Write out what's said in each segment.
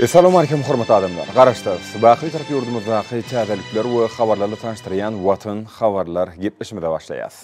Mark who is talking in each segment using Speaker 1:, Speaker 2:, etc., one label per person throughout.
Speaker 1: Essalawmalikim hormatly adamlar! Garaşsyz, baky Türk ýurdumyzdaky täzelikler we habarlarly tanyşdyrýan Watan habarlar gepleşimize başlaýas.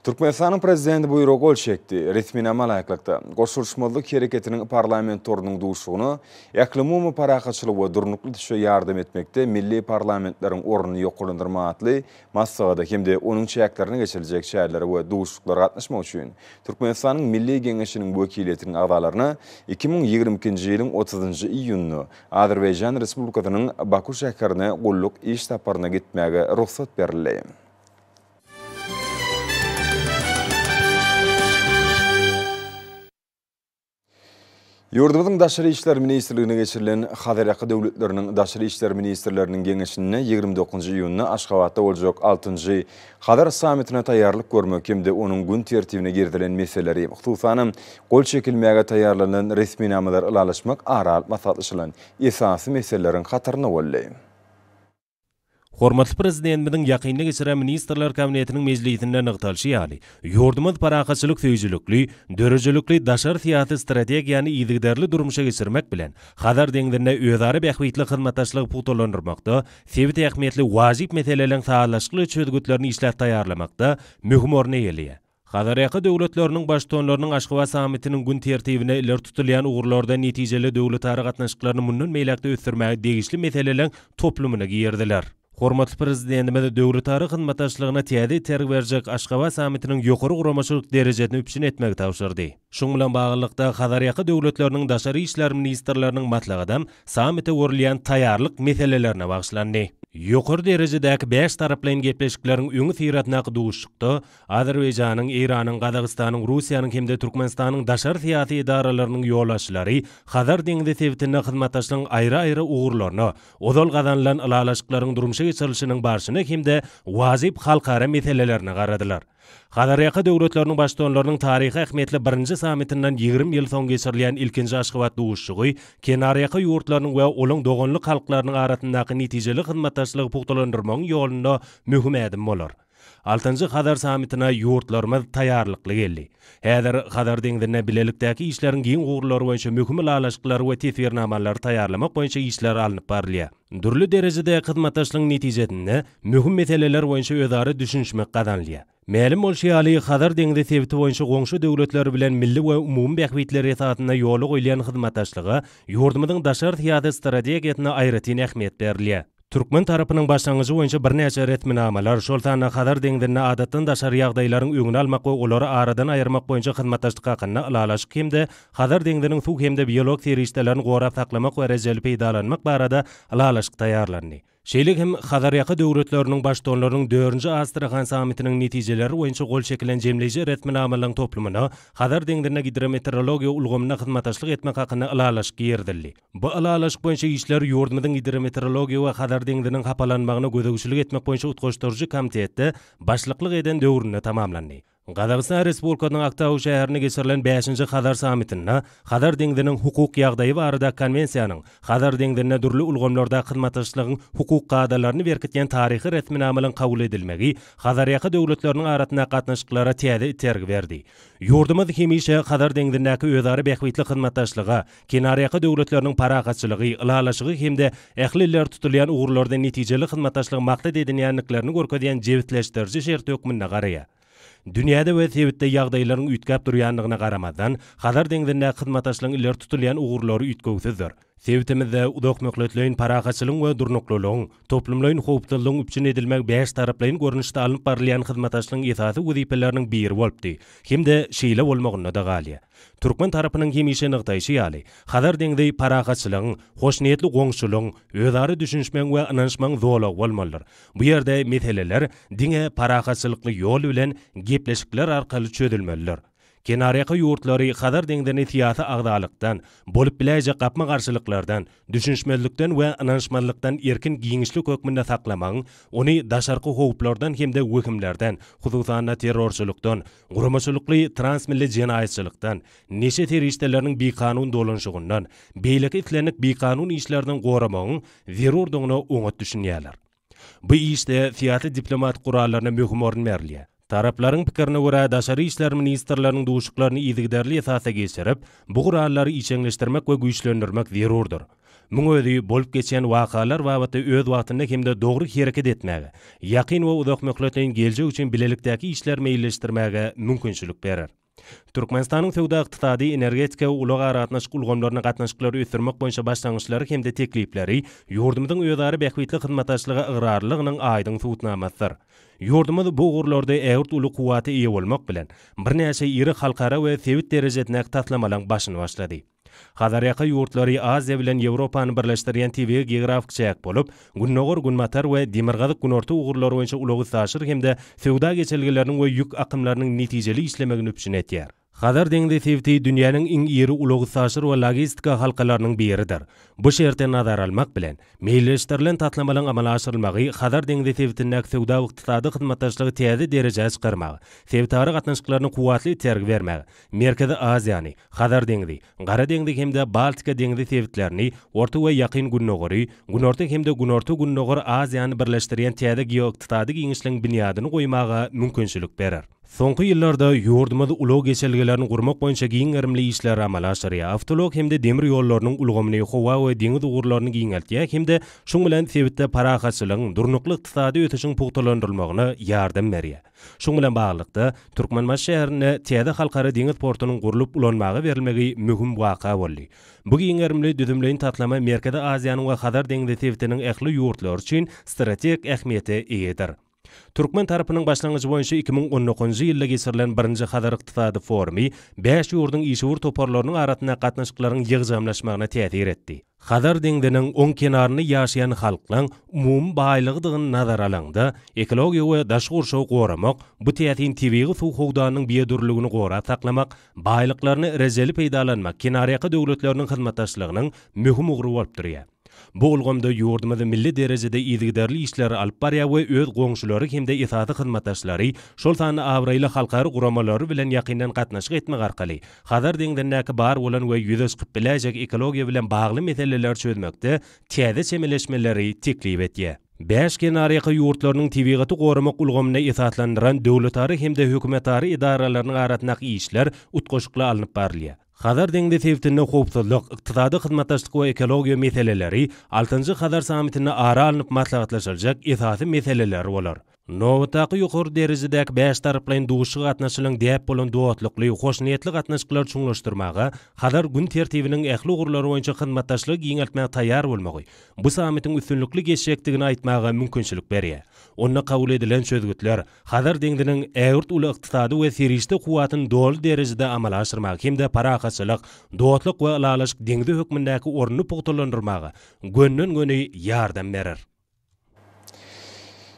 Speaker 1: Türkmenistanyň Prezidenti buýruga gol çekdi. Resminama laýyklykda, Goşulyşmazlyk Hereketiniň Parlament torunyň duşugyna Ählumumy parahatçylygy we durnukly düşe ýardam etmekde milli parlamentleriň ornuny ýokarlandyrma atly Maslahata hem-de onuň çäklerine geçiriljek çärelere we duşuşyklara gatnaşmak üçin Türkmenistanyň Milli Geňeşiniň wekiliýetiniň agzalaryna iki müň ýigrimi ikinji ýylyň otuzynjy iýunynda Azerbaýjan Respublikasynyň Baku şäherine gulluk iş saparyna gitmäge rugsat berildi. Ýurdumyzyň Daşary işler ministrliginde geçirilen Hazarýaka döwletleriniň Daşary işler ministrleriniň geňeşinde ýigrimi dokuzynjy iýunda Aşgabatda boljak altynjy Hazar sammitine taýýarlyk görmek hem-de onuň gün tertibine girizilen meseleleri, hususanam, gol çekilmäge taýýarlanylan resminamalar ylalaşmak ara alyp maslahatlaşylan esasy meseleleriň hatarynda boldy.
Speaker 2: Hormatly Prezidentimiziň ýakynda geçiren Ministrler Kabinetiniň mejlisinde nygtalyşy ýaly, ýurdumyz parahatçylyk söýüjilikli, döredijilikli daşary syýasy strategiýany yzygiderli durmuşa geçirmek bilen, Hazar deňzinde özara bähbitli hyzmatdaşlygy pugtalandyrmakda, sebit ähmiýetli wajyp meseleleriň sazlaşykly çözgütlerini işläp taýýarlamakda möhüm orun eýeleýär. Hazarýaka döwletleriniň Baştutanlarynyň Aşgabat sammitiniň gün tertibine ileri tutulýan ugurlarda netijeli döwletara gatnaşyklaryny mundan beýläk-de ösdürmäge degişli meseleleriň toplumyna girdiler. Hormatly Prezidentimiz döwletara hyzmatdaşlygyna täze itergi berjek Aşgabat sammitiniň ýokary guramaçylyk derejesini üpjün etmegi tabşyrdy. Şunuň bilen baglylykda, Hazarýaka döwletleriniň daşary işler ministrleriniň maslahatam sammite görülýän taýýarlyk meselelerine bagyşlandy. Ýokary derejedäki bäş taraplaýyn gepleşikleriň öňüsyrasyndaky duşuşykda Azerbaýjanyň, Eýranyň, Gazagystanyň, Russiýanyň hem-de Türkmenistanyň daşary syýasy edaralarynyň ýolbaşçylary Hazar deňzi sebitinde hyzmatdaşlygyň aýry-aýry ugurlaryna, ozal gazanylan ylalaşyklaryň durmuşa geçirilişiniň barşyna hem-de wajyp halkara meselelerine garadylar. Hazarýaka döwletleriniň Baştutanlarynyň taryhy ähmiýetli birinji sammitinden ýigrimi ýyl soň geçirilýän ilkinji Aşgabat duşuşygy kenarýaka ýurtlarynyň we olaň doganlyk halklarynyň arasyndaky netijeli hyzmatdaşlygy pugtalandyrmagyň ýolunda möhüm ädim bolar. Altynjy Hazar sammitine ýurtlarymyz taýýarlykly geldi. Häzir Hazar deňzinde bilelikdäki işleriň giň ugurlary boýunça möhüm ylalaşyklary we teswirnamalary taýýarlamak boýunça işler alnyp barylýar. Dürli derejedäki hyzmatdaşlygyň netijesinde möhüm meseleler boýunça özara düşünişmek gazanylýar. Mälim bolşy ýaly, Hazar deňzi sebiti boýunça goňşy döwletler bilen milli we umumy bähbitler esasynda ýola goýulýan hyzmatdaşlyga ýurdumyzyň daşary syýasy strategiýasynda aýratyn ähmiýet berilýär. Türkmen tarapynyň başlangyjy boýunça birnäçe resminamalar, şol sanda Hazar deňzinde adatdan daşary ýagdaýlaryň öňüni almak we olary aradan aýyrmak boýunça hyzmatdaşlyk hakynda Ylalaşyk hem-de Hazar deňziniň suw hem-de biolog serişdelerini gorap saklamak we rejeli peýdalanmak barada ylalaşyk taýýarlandy. Şeýle hem Hazarýaka döwletleriniň Baştutanlarynyň dördünji Astrahan sammitiniň netijeleri boýunça gol çekilen jemleýji resminamalaryň toplumyna Hazar deňzinde gidrometeorologiýa ulgamynda hyzmataşlyk etmek hakynda ylalaşyk girizildi. Bu ylalaşyk boýunça işler ýurdumyzyň Gidrometeorologiýa we Hazar deňziniň hapalanmagyna gözegçilik etmek boýunça utgaşdyryjy komitetde başlyklyk eden döwründe tamamlandy. Gazagystan Respublikasynyň Aktau şäherinde geçirilen bäşinji Hazar sammitinde Hazar deňziniň hukuk ýagdaýy barada Konwensiýanyň Hazar deňzinde dürli ulgamlarda hyzmatdaşlygyň hukuk kadalaryny berkitýän taryhy resminamanyň kabul edilmegi Hazarýaka döwletleriniň arasyndaky gatnaşyklara täze itergi berdi. Ýurdumyz hemişe Hazar deňzindäki özara bähbitli hyzmatdaşlyga Kenarýaka döwletleriniň parahatçylygy, ylalaşygy hem-de ähli iller tutulýan ugurlarda netijeli hyzmatdaşlygy maksat edinýändiklerini görkezýän jebisleşdiriji şert hökmünde garaýar. Dünýäde we sebitde ýagdaýlaryň üýtgäp durýandygyna garamazdan, Hazar deňzindäki hyzmatdaşlygyň ileri tutulýan ugurlary üýtgewsizdir. Sebitimizde uzakmöhletleýin parahatçylygyň we durnuklylygyň, toplumlaýyn howpsuzlygyň üpjün edilmegi bäştaraplaýyn görnüşde alnyp barylýan hyzmatdaşlygyň esasy wezipeleriniň biri bolupdy hem-de şeýle bolmagynda-da galýar. Türkmen tarapynyň hemişe nygtaýşy ýaly, Hazar deňzi parahatçylygyň, hoşniýetli goňşulygyň, özara düşünişmegiň we ynanyşmagyň zolagy bolmalydyr. Bu ýerde meseleler diňe parahatçylykly ýol bilen gepleşikler arkaly çözülmelidir. Kenarýaka ýurtlary Hazar deňzini syýasy agzalykdan, bolup biläýjek gapma-garşylyklardan, düşünişmezlikden we ynanyşmazlykdan erkin giňişlik hökmünde saklamagyň, ony daşarky howplardan hem-de wehimlerden, hususan-da terrorçylykdan, Guramaçylykly transmilli jenaýatçylykdan, neşe serişdeleriniň bikanun dolanyşygyndan, beýleki islendik bikanun işlerden goramagyň zerurdygyna oňat düşünýärler. Bu işde syýasy diplomatik gurallaryna möhüm orun berilýär. Taraplaryň pikirine görä, daşary işler ministrleriniň duşuklaryny yzygiderli esasda geçirip, bu gurallary işeňleşdirmek we güýçlendirmek zerurdyr. Muň özi bolup geçýän wakalar babatda öz wagtynda hem-de dogry hereket etmäge, ýakyn we uzakmöhletleýin geljek üçin bilelikdäki işleri meýilleşdirmäge mümkinçilik berer. Türkmenistanyň söwda-ykdysady, energetika we ulag-aragatnaşyk ulgamlaryna gatnaşyklary ösdürmek boýunça başlangyçlary hem-de teklipleri ýurdumyzyň özara bähbitli hyzmatdaşlyga ygrarlylygynyň aýdyň subutnamasydyr. Ýurdumyz bu ugurlarda ägirt uly kuwwata eýe bolmak bilen, birnäçe iri halkara we sebit derejesindäki taslamalaryň başyny başlady. Hazarýaka ýurtlary Aziýa bilen Ýewropany birleşdirýän tebigy geografik çäk bolup, gündogar-günbatar we demirgazyk-günorta ugurlary boýunça ulag-üstaşyr hem-de söwda geçelgeleriniň we ýük akymlarynyň netijeli işlemegini üpjün edýär. Hazar deňzi sebiti dünýäniň iň iri ulag-üstaşyr we logistika halkalarynyň biridir. Bu şerti nazara almak bilen, meýilleşdirilen taslamalaryň amala aşyrylmagy Hazar deňzi sebitindäki söwda-ykdysady hyzmatdaşlygy täze derejä çykarmaga, sebitara gatnaşyklaryna kuwwatly itergi bermäge, Merkezi Aziýany, Hazar deňzi, Gara deňzi hem-de Baltika deňzi sebitlerini, Orta we Ýakyn Gündogary, Günorta hem-de Günorta-Gündogar Aziýany birleşdirýän täze geoykdysady giňişligiň binýadyny goýmaga mümkinçilik berer. Soňky ýyllarda ýurdumyz ulag geçelgelerini gurmak boýunça giň gerimli işleri amala aşyrýar, awtoulag hem-de demir ýollarynyň ulgamyny, howa we deňiz ugurlaryny giňeltýär hem-de şuň bilen sebitde parahatçylygyň, durnukly ykdysady ösüşiň pugtalandyrylmagyna ýardam berýär. Şuň bilen baglylykda, Türkmenbaşy şäherinde täze halkara deňiz portunyň gurlup ulanmaga berilmegi möhüm waka boldy. Bu giň gerimli düzümleýin taslama Merkezi Aziýanyň we Hazar deňzi sebitiniň ähli ýurtlary üçin strategik ähmiýete eýedir. Türkmen tarapynyň başlangyjy boýunça iki müň on dokuzynjy ýylda geçirilen birinji Hazar ykdysady forumy bäş ýurduň işewür toparlarynyň arasyndaky gatnaşyklaryň ýygjamlaşmagyna täsir etdi. Hazar deňziniň oň kenarynda ýaşaýan halklaryň umumy baýlygydygyny nazara alanda, ekologiýa we daşky gurşawy goramak, bu täsin tebigy suw howdanynyň biodürlüligini gorap saklamak, baýlyklaryny rejeli peýdalanmak kenarýaka döwletleriniň hyzmatdaşlygynyň möhüm ugry bolup durýar. Bu ulgamda ýurdumyz milli derejede yzygiderli işleri alyp barýar we öz goňşulary hem-de esasy hyzmatdaşlary, şol sanda abraýly halkara guramalary bilen ýakyndan gatnaşyk etmek arkaly Hazar deňzindäki bar bolan we ýüze çykyp biläýjek ekologiýa bilen bagly meseleleri çözmekde täze çemeleşmeleri teklip edýär. Bäş kenarýaka ýurtlarynyň tebigaty goramak ulgamyna esaslandyran döwletara hem-de hökümetara edaralarynyň arasyndaky işler utgaşykly alnyp barylýar. Hazar deňzi sebitinde howpsuzlyk, ykdysady hyzmatdaşlyk we ekologiýa meseleleri altynjy Hazar sammitinde ara alnyp maslahatlaşyljak esasy meseleler bolar. Nobatdaky ýokary derejedäki bäş taraplaýyn duşuşyga gatnaşylan däp bolan dostlukly, hoşniýetli gatnaşyklary çuňlaşdyrmaga, Hazar gün tertibiniň ähli ugurlary boýunça hyzmatdaşlygy giňeltmäge taýýar bolmagy bu sammitiň üstünlikli geçjekdigini aýtmaga mümkinçilik berýär. Onda kabul edilen çözgütler Hazar deňziniň ägirt uly ykdysady we serişde kuwwatyny doly derejede amala aşyrmaga hem-de parahatçylyk, dostluk we ylalaşyk deňzi hökmündäki ornuny pugtalandyrmaga gönden-göni ýardam berer.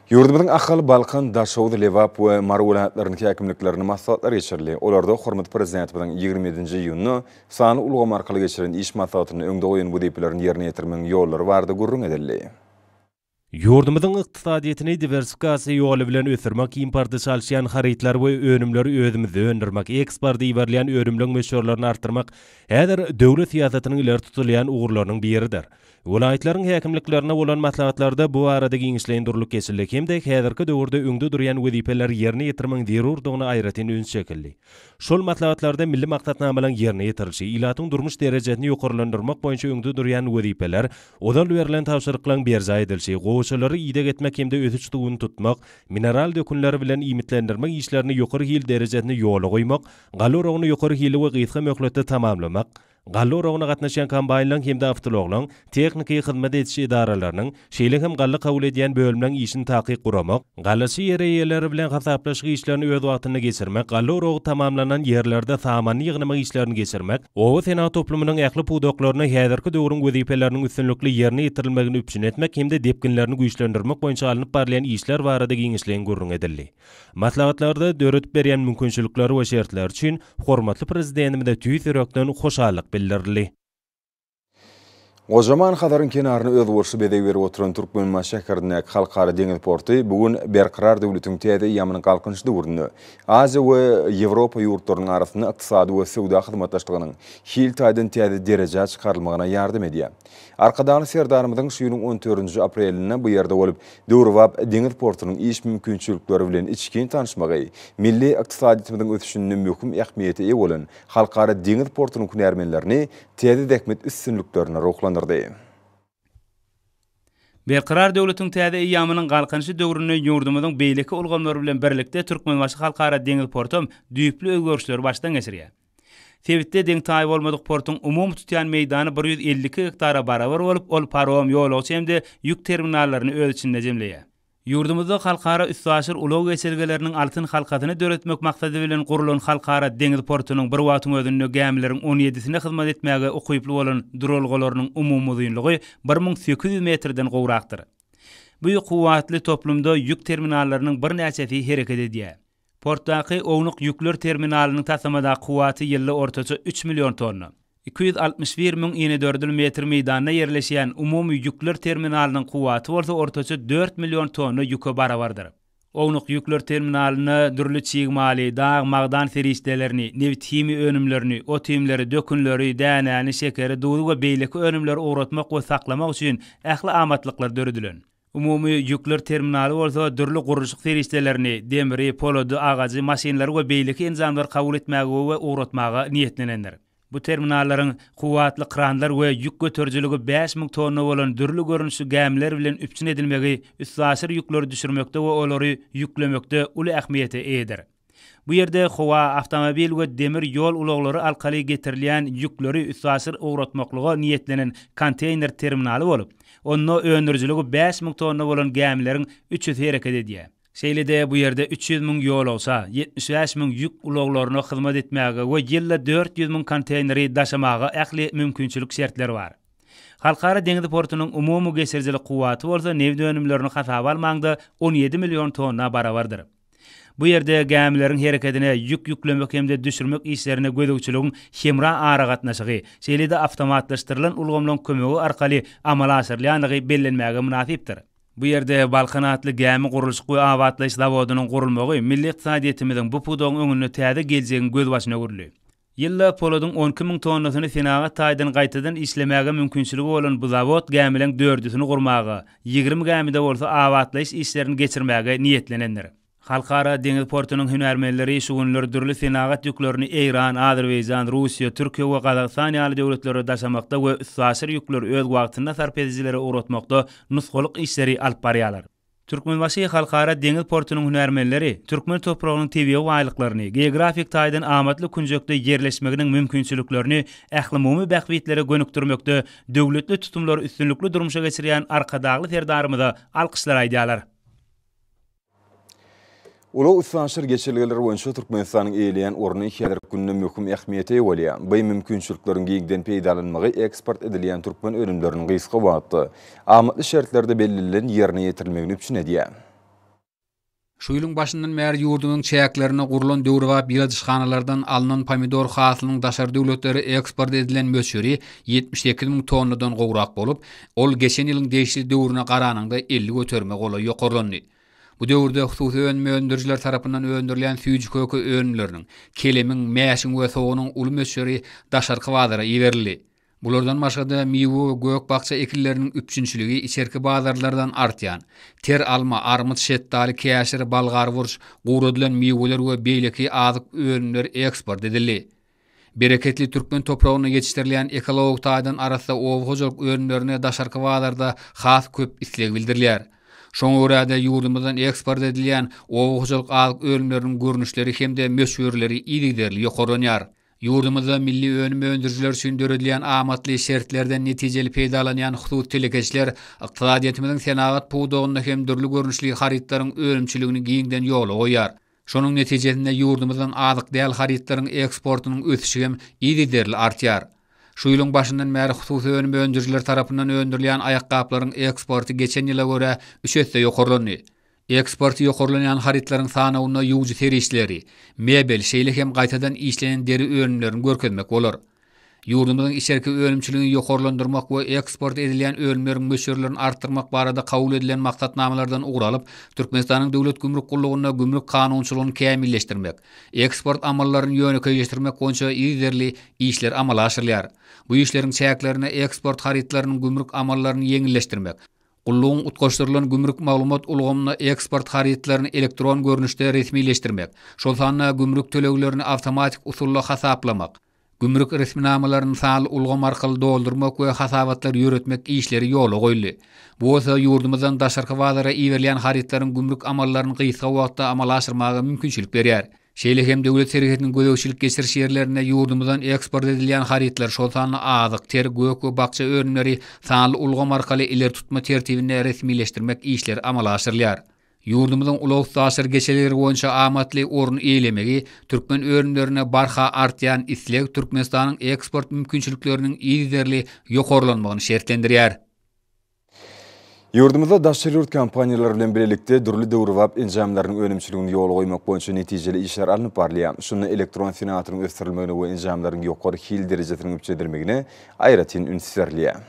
Speaker 1: Ýurdumyzyň Ahal, Balkan, Daşoguz, Lebap we Mary welaýatlarynyň häkimliklerinde maslahatlar geçirildi. Olarda hormatly Prezidentimiziň ýigrimi ýedinji iýunda sanly ulgam arkaly geçiren iş maslahatynda öňde goýan wezipelerini ýerine ýetirmegiň ýollary barada gürrüň edildi.
Speaker 2: Ýurdumyzyň ykdysadyýetini diwersifikasiýa ýoly bilen ösdürmek, importy çalyşýan harytlary we önümleri özümizde öndürmek, eksporta iberilýän önümleň möçberlerini artdyrmak häzir döwlet syýasatynyň ileri tutulýan ugurlarynyň biridir. Welaýatlaryň häkimliklerine bolan maslahatlarda bu barada giňişleýin durlup geçildi hem-de häzirki döwürde öňde durýan wezipeleri ýerine ýetirmegiň zerurdygyna aýratyn üns çekildi. Şol maslahatlarda milli maksatnamalaryň ýerine ýetirilişi, ilatyň durmuş derejesini ýokarlandyrmak boýunça öňde durýan wezipeler, ozal berlen tabşyryklaryň berjaý edilişi, gowaçalary ideg etmek hem-de ösüş suwuny tutmak, mineral dökünleri bilen iýmitlendirmek işlerini ýokary hil derejesinde ýola goýmak, galla oragyny ýokary hilli we gysga möhletde tamamlamak, Galla oragyna gatnaşýan kombaýnlaryň hem-de awtoulaglaryň tehniki hyzmat ediş edaralarynyň, şeýle hem galla kabul edýän bölümleriň işini takyk guramak, gallaçy ýer eýeleri bilen hasaplaşyk işlerini öz wagtynda geçirmek, galla oragy tamamlanan ýerlerde samany ýygnamak işlerini geçirmek, oba senagat toplumynyň ähli pudaklarynda häzirki döwrüň wezipeleriniň üstünlikli ýerine ýetirilmegini üpjün etmek hem-de depginlerini güýçlendirmek boýunça alnyp barylýan işler barada giňişleýin gürrüň edildi. Maslahatlarda döredip berýän mümkinçilikler we şertler üçin hormatly Prezidentimize tüýs ýürekden hoşallyk bildirildi.
Speaker 1: Gojaman Hazaryň kenaryna özboluşly bezeg berip oturan Türkmenbaşy şäherindäki Halkara deňiz porty bu gün Berkarar döwletiň täze eýýamynyň Galkynyş döwründe Aziýa we Ýewropa ýurtlarynyň arasynda ykdysady we söwda hyzmatdaşlygynyň hil taýdan täze derejä çykarylmagyna ýardam edýär Arkadagly Serdarymyzyň şu ýylyň on dördünji aprelinde bu ýerde bolup, döwrebap deňiz portunyň iş mümkinçilikleri bilen içgin tanyşmagy, milli ykdysadyýetimiziň ösüşinde möhüm ähmiýete eýe bolan Halkara deňiz portunyň hünärmenlerini täze zähmet üstünliklerine ruhlandyrdy.
Speaker 3: Berkarar döwletiň täze eýýamynyň Galkynyşy döwründe ýurdumyzyň beýleki ulgamlary bilen birlikde Türkmenbaşy Halkara deňiz portam düýpli özgerişleri başdan geçirýär. Sebitde deň-taýy bolmadyk portuň umumy tutýan meýdany bir ýüz elli iki gektara barabar bolup, ol parom, ýolagçy hem-de ýük terminallaryny öz içinde jemleýär. Ýurdumyzda halkara üstaşyr ulag geçelgeleriniň altyn halkasyny döretmek maksady bilen gurlan Halkara deňiz portunyň bir wagtyň özünde gämileriň on ýedisine hyzmat etmäge ukyply bolan duralgalarynyň umumy uzynlygy bir müň sekiz ýüz metrden gowrakdyr. Bu kuwwatly toplumda ýük terminallarynyň birnäçesi hereket edýär. Portdaky ownuk ýükler terminalynyň taslamadaky kuwwaty ýylda ortaça üç million tonna. Iki ýüz altmyş bir müň inedördül metr meýdanda ýerleşýän umumy ýükler terminalynyň kuwwaty bolsa ortaça dört million tonna ýüke barabardyr. Ownuk ýükler terminalynda dürli çig maly, dag, magdan serişdelerini, nebit-himiýa önümlerini, ot-iýmleri, dökünleri, dänäni, şekeri, duzy we beýleki önümleri ugratmak we saklamak üçin ähli amatlyklar döredilen. Umumy ýükler terminaly bolsa dürli gurluşyk serişdelerini, demri, polady, agajy, maşynlary we beýleki enjamlary kabul etmäge we ugratmaga niýetlenendir. Bu terminallaryň kuwwatly kranlar we ýük göterijiligi bäş müň tonna bolan dürli görnüşli gämiler bilen üpjün edilmegi üstaşyr ýükleri düşürmekde we olary ýüklemekde uly ähmiýete eýedir. Bu ýerde howa, awtomobil we demir ýol ulaglary arkaly getirilýän ýükleri üstaşyr ugratmaklyga niýetlenen konteýner terminaly bolup, onda öndürijiligi bäş müň tonna bolan gämileriň üç ýüzi hereket edýär. Şeýle-de bu ýerde üç ýüz müň ýolagça, ýetmiş bäş müň ýük ulaglaryna hyzmat etmäge we ýylda dört ýüz müň konteýneri daşamaga ähli mümkinçilik şertler bar. Halkara deňiz portunyň umumy geçirijilik kuwwaty bolsa nebit önümlerini hasaba almaňda on ýedi million tonna barabardyr. Bu ýerde gämileriň herekedine, ýük ýüklemek hem-de düşürmek işlerine gözegçiligiň hemra aragatnaşygy, şeýle-de awtomatlaşdyrylan ulgamlaryň kömegi arkaly amala aşyrylýandygy bellenmäge mynasypdyr. Bu ýerde Balkan atly gämi gurluşyk we abatlaýyş zawodynyň gurulmagy milli ykdysadyýetimiziň bu pudagyň öňünde täze geljegiň gözbaşyny öwürdi. Ýyllap poladyň on iki müň tonnasyny senagat taýdan gaýtadan işlemäge mümkinçiligi bolan bu zawod gämileň dördüsini gurmaga, ýigrimi gämide bolsa abatlaýyş işlerini geçirmäge niýetlenendir. Halkara deňiz portunyň hünärmenleri şu günler dürli senagat ýüklerini Eýran, Azerbaýjan, Russiýa, Türkiýe we Gazagystan ýaly döwletlere daşamakda we üstaşyr ýükleri öz wagtynda sarp edijilere ugratmakda nusgalyk işleri alyp barýarlar. Türkmenbaşy Halkara deňiz portunyň hünärmenleri türkmen topragynyň tebigy baýlyklaryny, geografik taýdan amatly künjekde ýerleşmeginiň mümkinçiliklerini ählumumy bähbitlere gönükdirmekde döwletli tutumlary üstünlikli durmuşa geçirýän Arkadagly Serdarymyza alkyşlar aýdýarlar.
Speaker 1: Ulag-üstaşyr geçelgeler boýunça Türkmenistanyň eýeleýän orny häzirki günde möhüm ähmiýete eýe bolýar. Bu mümkinçilikleriň giňden peýdalanmagy eksport edilýän türkmen önümleriniň gysga wagtda, amatly şertlerde bellenilen ýerine ýetirilmegini üpjün edýär.
Speaker 4: Şu ýylyň başyndan bäri ýurdumyzyň çäklerinde gurlan döwrebap ýyladyşhanalardan alnan pomidor hasylynyň daşary döwletlere eksport edilen möçberi ýetmiş sekiz müň tonnadan gowrak bolup, ol geçen ýylyň degişli döwrüne garanyňda elli göterime golaý ýokarlandy. Bu döwürde hususy önüm öndürijiler tarapyndan öndürilýän süýji köke önümleriniň, kelemiň, mäşiň we soganyň uly möçberi daşarky bazara iberildi. Bulardan başga-da, miwe we gök-bakja ekinleriniň üpjünçiligi içerki bazarlardan artýan, ter alma, armyt, şetdaly, käşir, bolgar burç, guradylan miweler we beýleki azyk önümleri eksport edildi. Bereketli türkmen topragynda ýetişdirilýän ekologik taýdan arassa oba hojalyk önümlerine daşarky bazarda has köp isleg bildirilýär. Şoňa görä-de, ýurdumyzdan eksport edilýän oba hojalyk azyk önümleriniň görnüşleri hem-de möçberleri yzygiderli ýokarlanýar. Ýurdumyzda milli önüm öndürijiler üçin döredilýän amatly şertlerden netijeli peýdalanýan hususy telekeçiler ykdysadyýetimiziň senagat pudagynda hem dürli görnüşli harytlaryň önümçiligini giňden ýola goýýar. Şonuň netijesinde ýurdumyzdan azyk däl harytlaryň eksportynyň ösüşi hem yzygiderli artýar. Şu ýylyň başyndan bäri hususy önüm öndürijileri tarapyndan öndürilýän aýakgaplaryň eksporty geçen ýyla görä üç esse ýokarlandy. Eksporty ýokarlanýan harytlaryň sanawynda ýuwujy serişdeleri, mebel, şeýle hem gaýtadan işlenen deri önümlerini görkezmek bolar. Ýurdumyzyň içerki önümçiligini ýokarlandyrmak we eksport edilýän önümleriň möçberlerini artdyrmak barada kabul edilen maksatnamalardan ugur alyp, Türkmenistanyň Döwlet gümrük gullugynda gümrük kanunçylygyny kämilleşdirmek, eksport amallaryny ýönekeýleşdirmek boýunça yzerli işler amala aşyrylýar. Bu işleriň çäklerinde eksport harytlarynyň gümrük amallaryny ýeňilleşdirmek, Gullugyň utgaşdyrylan gümrük maglumat ulgamynda eksport harytlaryny elektron görnüşde resmileşdirmek, şol sanda gümrük töleglerini awtomatik usulda hasaplamak, Gümrük resminamalaryny sanly ulgam arkaly doldurmak we hasabatlar ýöretmek işleri ýola goýuldy. Bu bolsa ýurdumyzdan daşarky bazara iberilýän harytlaryň gümrük amallaryny gysga wagtda amala aşyrmaga mümkinçilik berýär. Şeýle hem döwlet serhetiniň gözegçilik-geçiriş ýerlerinde ýurdumyzdan eksport edilýän harytlar, şol sanda azyk, ter, gök we bakja önümleri sanly ulgam arkaly ileri tutma tertibinde resmileşdirmek işleri amala aşyrylýar. Ýurdumyzyň ulag-üstaşyr geçelgeleri boýunça amatly orun eýelemegi, türkmen önümlerine barha artýan isleg Türkmenistanyň eksport mümkinçilikleriniň yzygiderli ýokarlanmagyny şertlendirýär.
Speaker 1: Ýurdumyzda daşary ýurt kompaniýalary bilen bilelikde dürli döwrebap enjamlaryň önümçiligini ýola goýmak boýunça netijeli işler alnyp barylýar. Şunda elektron senagatynyň ösdürilmegine we enjamlaryň ýokary hil derejesiniň üpjün edilmegine aýratyn üns berilýär.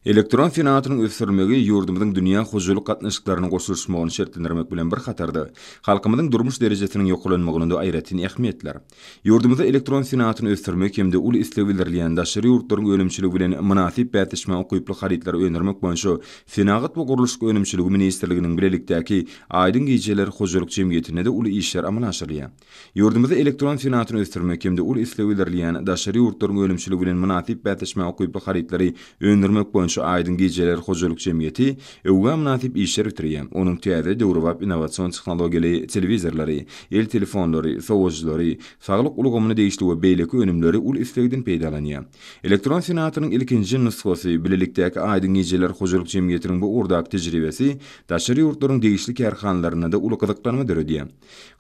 Speaker 1: Elektron senagatynyň ösdürilmegi ýurdumyzyň dünýä hojalyk gatnaşyklaryna goşulyşmagyny şertlendirmek bilen bir hatarda, halkymyzyň durmuş derejesiniň ýokarlanmagyna-da aýratyn ähmiýetler. Ýurdumyzda elektron senagatyny ösdürmek hem-de uly isleg bildirilýän daşary ýurtlaryň önümçiligi bilen mynasyp bäsleşmä ukyply harytlary öndürmek boýunça Senagat we gurluşyk önümçiligi ministrliginiň bilelikdäki Aýdyň gijeler hojalyk jemgyýetinde-de uly işler amala aşyrylýar. Ýurdumyzda elektron senagatyny ösdürmek hem-de ol isleg bildirilýän daşary ýurtlaryň önümçiligi bilen mynasyp bäsleşmä ukyply harytlary öndürmek boýunça Aýdyň gijeler hojalyk jemgyýeti öwgä mynasyp işler bitirýär, onuň täze, döwrebap innowasion tehnologiýaly telewizorlary, el telefonlary, sowujylary, saglyk ulgamyna degişli we beýleki önümleri uly islegden peýdalanýar. Elektron senagatynyň ilkinji nusgasy, bilelikdäki Aýdyň gijeler hojalyk jemgyýetiniň bu ugurdaky tejribesi daşary ýurtlaryň degişli kärhanalarynda-da uly gyzyklanma döredýär.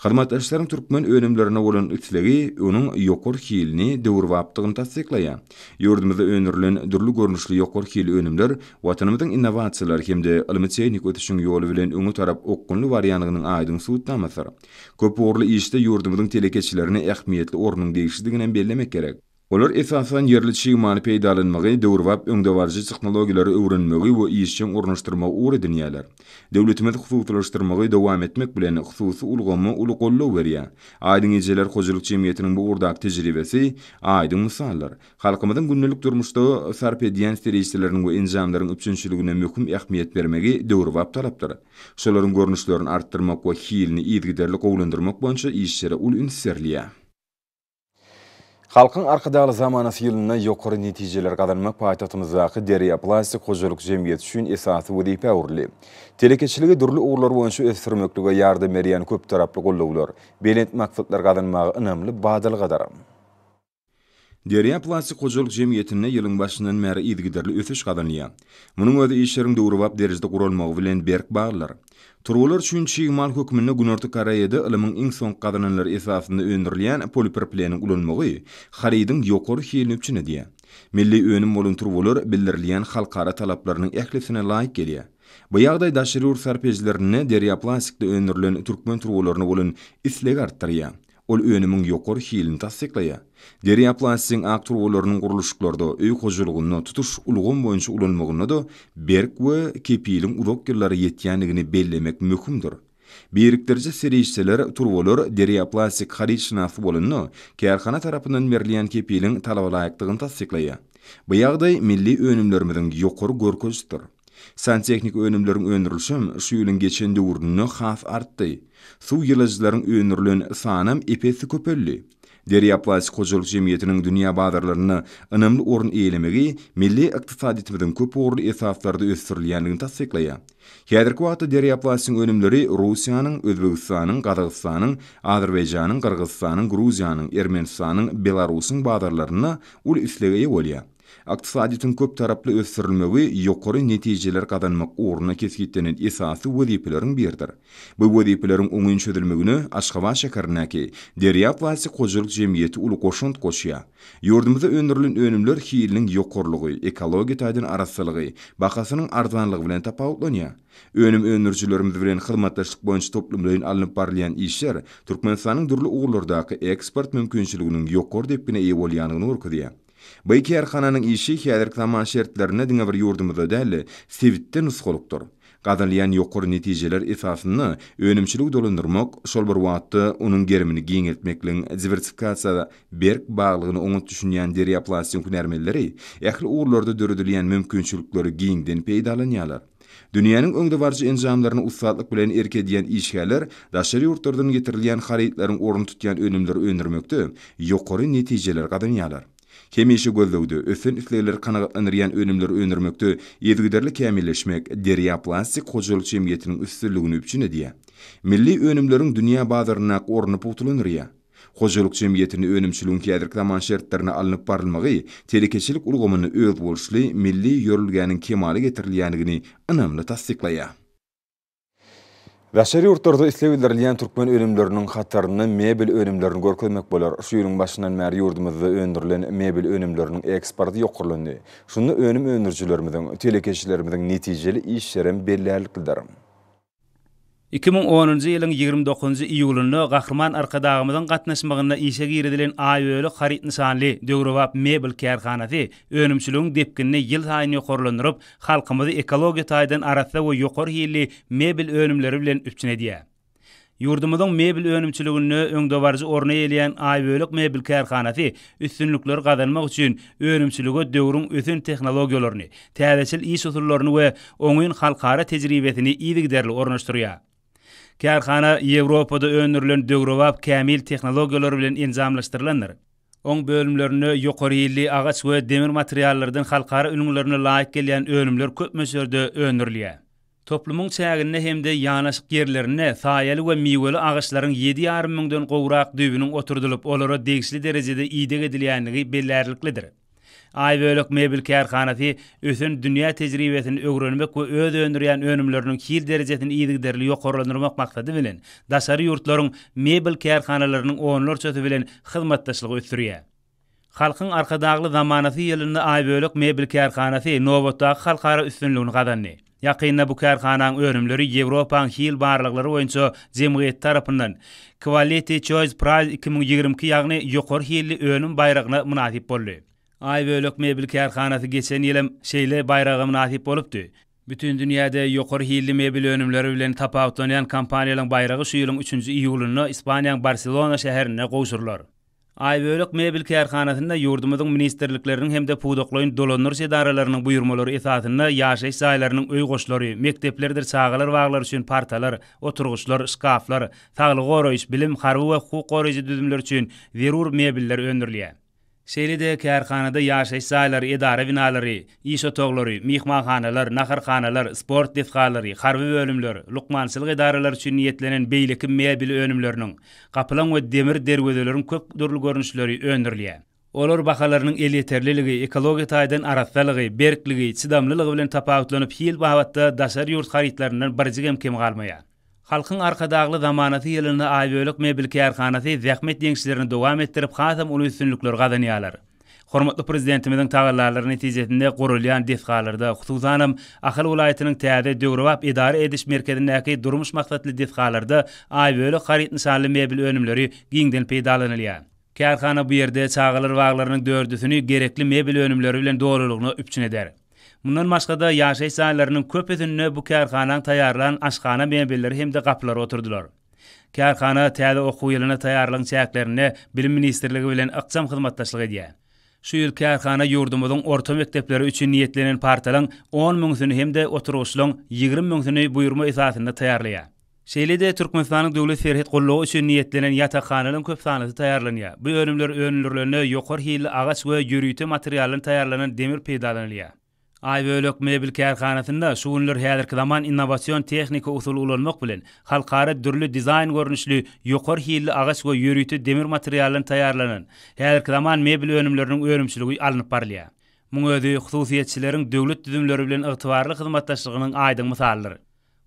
Speaker 1: Hyzmatdaşlaryň türkmen önümlerine bolan islegi onuň ýokary hilini, döwürbapdygyny tassyklaýar. Ýurdumyzda öndürilen dürli görnüşli ýokary hilli önümler Watanymyzyň innowasiýalar hem-de ylmy-tehniki ösüşiň ýoly bilen öňe tarap okgunly barýandygynyň aýdyň subutnamasydyr. Köpugurly işde ýurdumyzyň telekeçilerine ähmiýetli ornuň degişlidiginem bellemek gerek. Olar esasan ýerli çig maly peýdalanmagy, döwrebap öňdebaryjy tehnologiýalary öwrenmegi we işjeň ornaşdyrmagy ugur edinýärler. Döwletimiz hususylaşdyrmagy dowam etmek bilen, hususy ulgama uly goldaw berýär. Aýdyň ejeler hojalyk jemgyýetiniň bu ugurdaky tejribesi aýdyň mysaldyr. Halkymyzyň gündelik durmuşda sarp edýän serişdeleriň we enjamlaryň üpjünçiligine möhüm ähmiýet bermegi döwrebap talapdyr. Şolaryň görnüşlerini artdyrmak we hilini yzygiderli gowulandyrmak boýunça işlere uly üns berilýär. Halkyň Arkadagly zamanasy ýylynda ýokary netijeleri gazanmak paýtagtymyzdaky Derýa plastik hojalyk jemgyýeti üçin esasy wezipä öwrüldi. Telekeçiligi dürli ugurlar boýunça ösdürmeklige ýardam berýän köptaraply goldawlar belent maksatlary gazanmaga ynamly badalgadyr. Derýa plastik hojalyk jemgyýetinde ýylyň başyndan bäri yzygiderli ösüş gazanylýar. Munuň özi işleriň döwrebap derejede guralmagy bilen berk baglydyr. Turbalar üçin çig mal hökmünde Günorta Koreýada ylymyň iň soňky gazananlary esasynda öndürilýän polipropileniň ulanmagy harydyň ýokary hilini üpjün edýär. Milli önüm bolan turbalar bildirilýän halkara talaplarynyň ählisine laýyk gelýär. Bu ýagdaý daşary ýurt sarp edijilerinde derýaplastikde öndürilen türkmen turbalaryna bolan islegi artdyrýar. Ol önümiň ýokary hilini tassyklaýar. Derýa plastigiň ak turbalarynyň gurluşyklarda, öý hojalygynda, tutuş ulgam boýunça ulanmagynda-da berk we kepiliň uzak ýyllara ýetýändigini bellemek möhümdir. Birikdiriji serişdeler, turbalar derýa plastik harytşynasy bolanda, kärhana tarapyndan berilýän kepiliň talabalaýykdygyny tassyklaýar. Bu ýagdaý milli önümlerimiziň ýokary görkezisidir. Santehniki önümleriň öndürilişem şu ýylyň geçen döwründe has artdy. Suw ýyladyjylaryň öndürilen sanam ep-esli köpeldi. Derýa plastik hojalyk jemgyýetiniň dünýä bazarlarynda ynamly orun eýelemegi milli ykdysadyýetimiziň köp ugurly esaslarda ösdürilýändigini tassyklaýar. Häzirki wagtda Derýa plastigiň önümleri Russiýanyň, Özbegistanyň, Gazagystanyň, Azerbaýjanyň, Gyrgyzystanyň, Gruziýanyň, Ermenistanyň, Belarusyň bazarlarynda uly islega eýe bolýar. Ykdysadyýetiň köptaraply ösdürilmegi ýokary netijeler gazanmak ugrunda kesgitlenen esasy wezipeleriň biridir. Bu wezipeleriň oňyn çözülmegine Aşgabat şäherindäki Derýa plastik hojalyk jemgyýeti uly goşant goşýar. Ýurdumyzda öndürilen önümler hiliniň ýokarylygy, ekologiýa taýdan arassalygy, bahasynyň arzanlygy bilen tapawutlanýar. Önüm öndürijilerimiz bilen hyzmatdaşlyk boýunça toplumlaýyn alnyp barylýan işler Türkmenistanyň dürli ugurlardaky eksport mümkinçiliginiň ýokary depgine eýe bolýandygyny görkezýär. Bu kärhananyň işi häzirki zaman şertlerinde diňe bir ýurdumyzda däl-de, sebitde nusgalykdyr. Gazanylýan ýokary netijeler esasynda önümçiligi dolandyrmak, şol bir wagtda onuň gerimini giňeltmekligiň diwersifikasiýa berk baglygyna oňat düşünýän derýaplastin hünärmenleri ähli ugurlarda döredilýän mümkinçilikleri giňden peýdalanýarlar. Dünýäniň öňdebaryjy enjamlaryny ussatlyk bilen erk edýän işgärler daşary ýurtlardan getirilýän harytlaryň ornuny tutýan önümleri öndürmekde ýokary netijeleri gazanýarlar. Hemişe gözlegde, ösen islegleri kanagatlandyrýan önümleri öndürmekde yzygiderli kämilleşmek Derýa plastik hojalyk jemgyýetiniň üstünligini üpjün edýär. Milli önümleriň dünýä bazaryndaky ornuny pugtalandyrýar. Hojalyk jemgyýetinde önümçiligiň häzirki zaman şertlerinde alnyp barylmagy telekeçilik ulgamynda özboluşly milli ýörelgäniň kemala getirilýändigini ynamly tassyklaýar. Daşary ýurtlarda isleg bildirilýän türkmen önümleriniň hatarynda mebel önümlerini görkezmek bolar. Şu ýylyň başyndan bäri ýurdumyzda öndürilen mebel önümleriniň eksporty ýokarlandy. Şunda önüm öndürijilerimiziň, telekeçilerimiziň netijeli işlerem bellärliklidir. Iki müň
Speaker 3: onunjy ýylyň ýigrimi dokuzynjy iýulynda Gahryman Arkadagymyzyň gatnaşmagynda işe girizilen Aýöli haryt nyşanly döwrebap mebel kärhanasy önümçiligiň depginini ýylsaýyn ýokarlandyryp, halkymyzy ekologiýa taýdan arassa we ýokary hilli mebel önümleri bilen üpjün edýär. Ýurdumyzyň mebel önümçiliginde öňdebaryjy orny eýeleýän Aýbölek mebel kärhanasy Üstünlikleri gazanmak üçin önümçilige döwrüň ösen tehnologiýalaryny, täzeçil iş usullaryny we oňyn halkara tejribesini yzygiderli ornaşdyrýar. Kärhana Ýewropada öndürilen döwrebap kämil tehnologiýalar bilen enjamlaşdyrylandyr. Oň bölümlerinde ýokary hilli agaç we demir materiallardan halkara ülňülerine laýyk gelýän önümler köp möçberde öndürilýär. Toplumyň çäginde hem-de ýanaşyk ýerlerinde saýaly we miweli agaçlaryň ýedi ýarym müňden gowrak düýbüniň oturdylyp, olara degişli derejede ideg edilýändigi bellärliklidir. Aýbölek mebel kärhanasy ösen dünýä tejribesini öwrenmek we öz öndürýän önümleriniň hil derejesini yzygiderli ýokarlandyrmak maksady bilen, daşary ýurtlaryň mebel kärhanalarynyň onlarçasy bilen hyzmatdaşlygy ösdürýär. Halkyň Arkadagly zamanasy ýylynda Aýbölek mebel kärhanasy nobatdaky halkara üstünligini gazandy. Ýakynda bu kärhanaň önümleri Ýewropaň hil barlaglary boýunça jemgyýeti tarapyndan Quality Choice Prize iki müň ýigrimi iki ýagny Ýokary hilli önüm baýragyna mynasyp boldy. Aýbölek mebel kärhanasy geçen ýylam şeýle baýraga mynasyp bolupdy. Bütin dünýäde ýokary hilli mebel önümleri bilen tapawutlanýan kompaniýalaryň baýragy şu ýylyň üçünji iýulynda Ispaniýaň Barselona şäherinde gowşurylar. Aýbölek mebel kärhanasynda ýurdumyzyň ministrlikleriniň hem-de pudaklaýyn dolandyryş edaralarynyň buýurmalary esasynda ýaşaýyş jaýlarynyň öý goşlary, mekdeplerdir çagalar baglary üçin partalar, oturgyçlar, şkaflar, saglygy goraýyş, bilim, harby we hukuk goraýjy düzümler üçin zerur mebeller öndürilýär. Şeýle-de kärhanada ýaşaýyş jaýlary, edara binalary, iş otaglary, myhmanhanalar, naharhanalar, sport desgalary, harby bölümler, lukmançylyk edaralary üçin niýetlenen beýleki mebel önümleriniň, Gaplaň we demir derwezeleriň köp dürli görnüşleri öndürilýär. Olar bahalarynyň elýeterliligi, ekologiýa taýdan arassalygy, berkligi, çydamlylygy bilen tapawutlanyp, hil babatda daşary ýurt harytlaryndan birjigem kem galmaýar. Halkyň Arkadagly zamanasy ýylynda Aýbölek mebel kärhanasy zähmet ýeňişlerini dowam etdirip, hasam uly üstünlikleri gazanýarlar. Hormatly Prezidentimiziň tagallalary netijesinde gurulýan desgalarda, hususanam, Ahal welaýatynyň täze döwrebap edara ediş merkezindäki durmuş maksatly desgalarda Aýbölek haryt nyşanly mebel önümleri giňden peýdalanylýar. Kärhana bu ýerde çagalar baglarynyň dördüsini gerekli mebel önümleri bilen dolulygyna üpjün eder. Mundan başga-da, ýaşaýyş jaýlarynyň köpüsinde bu kärhanaň taýýarlan aşhana mebelleri hem-de gapylary oturdylar. Kärhana täze okuw ýylyna taýýarlygyň çäklerinde Bilim ministrligi bilen ykjam hyzmatdaşlyk edýär. Şu ýyl kärhana ýurdumyzyň orta mekdepleri üçin niýetlenen partalaryň on müňüsini hem-de oturgyçlaryň ýigrimi müňüsini buýurma esasynda taýýarlaýar. Şeýle-de Türkmenistanyň Döwlet serhet gullugy üçin niýetlenen ýatakhanalyň köp sanlysy taýýarlanýar. Bu önümler öndürilende ýokary hilli agaç we ýörite materialdan taýýarlanan demir peýdalanylýar. Aýbölek mebel kärhanasynda şu günler häzirki zaman innowasion tehniki usuly ulanmak bilen, halkara dürli dizaýn görnüşli, ýokary hilli agaç we ýörite demir materialdan taýýarlanan, häzirki zaman mebel önümleriniň önümçiligi alnyp barylýar. Muň özi hususyýetçileriň döwlet düzümleri bilen ygtybarly hyzmatdaşlygynyň aýdyň mysalydyr.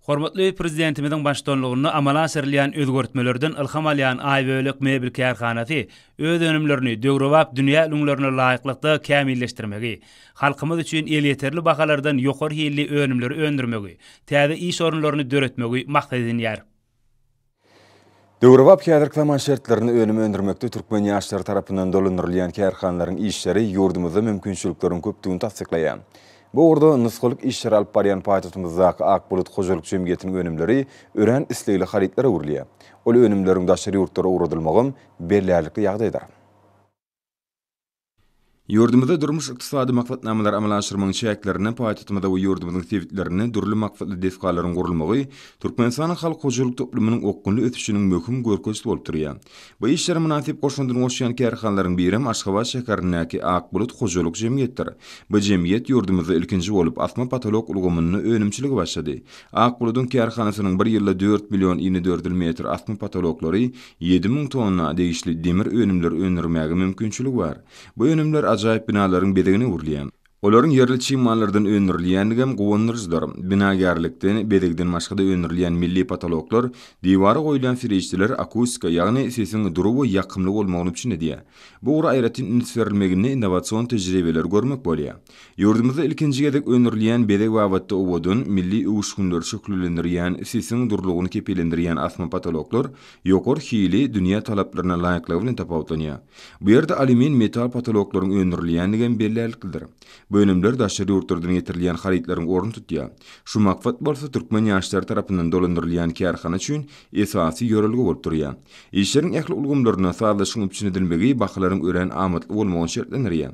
Speaker 3: Hormatly Prezidentimiziň baştutanlygynda amala aşyrylýan özgertmelerden ylham alýan Aýbölek mebel kärhanasy öz önümlerini döwrebap dünýä ülňülerine laýyklykda kämilleşdirmegi, halkymyz üçin elýeterli bahalardan ýokary hilli önümleri öndürmegi, täze iş orunlaryny döretmegi maksat edinýär. Döwrebap
Speaker 1: häzirki zaman şertlerinde önüm öndürmekde türkmen ýaşlary tarapyndan dolandyrylýan kärhanalaryň işleri ýurdumyzda mümkinçilikleriň köpdügini tassyklaýar. Bu ugurda nusgalyk işleri alyp barýan paýtagtymyzdaky Ak bulut hojalyk jemgyýetiniň önümleri örän islegli harytlara öwrülýär. Ol önümleriň daşary ýurtlara ugradylmagam bellärlikli ýagdaýdyr. Ýurdumyzda durmuş-ykdysady maksatnamalary amala aşyrmagyň çäklerinde paýtagtymyzda we ýurdumyzyň sebitlerinde dürli maksatly desgalaryň gurulmagy Türkmenistanyň halk hojalyk toplumynyň okgunly ösüşiniň möhüm görkezisi bolup durýar. Bu işlere mynasyp goşandyny goşýan kärhanalaryň birem Aşgabat şäherindäki Ak bulut hojalyk jemgyýetdir. Bu jemgyýet ýurdumyzda ilkinji bolup asma-potolok ulgamynda önümçilige başlady. Ak buludyň kärhanasynyň bir ýylda dört million inedördül metr asma-potoloklary Ýedi müň tonna degişli demir önümleri öndürmäge mümkinçiligi bar. Bu önümler ajaýyp binalaryň bezegine öwrülýär. Olaryň ýerli çig mallardan öndürilýändigi hem guwandyryjydyr. Binagärlikden, bezegden başga-da öndürilýän milli potoloklar, diwara goýulýan serişdeler akustika, ýagny sesiň dury we ýakymly bolmagyny üpjün edýär. Bu ugra aýratyn üns berilmeginde innowasion tejribeleri görmek bolýar. Ýurdumyzda ilkinji gezek öndürilýän bezeg babatda owadan, milli öwüşginleri şöhlelendirýän, sesiň durulygyny kepillendirýän asma potoloklar ýokary hili, dünýä talaplaryna laýyklygy bilen tapawutlanýar. Bu ýerde alýumin metal potoloklaryň öndürilýändigem bellärliklidir. Bu önümler daşary ýurtlardan getirilýän harytlaryň ornuny tutýar. Şu maksat bolsa türkmen ýaşlary tarapyndan dolandyrylýan kärhana üçin esasy ýörelge bolup durýar. Işleriň ähli ulgamlaryna sazlaşygyň üpjün edilmegi bahalaryň örän amatly bolmagyny şertlendirýär.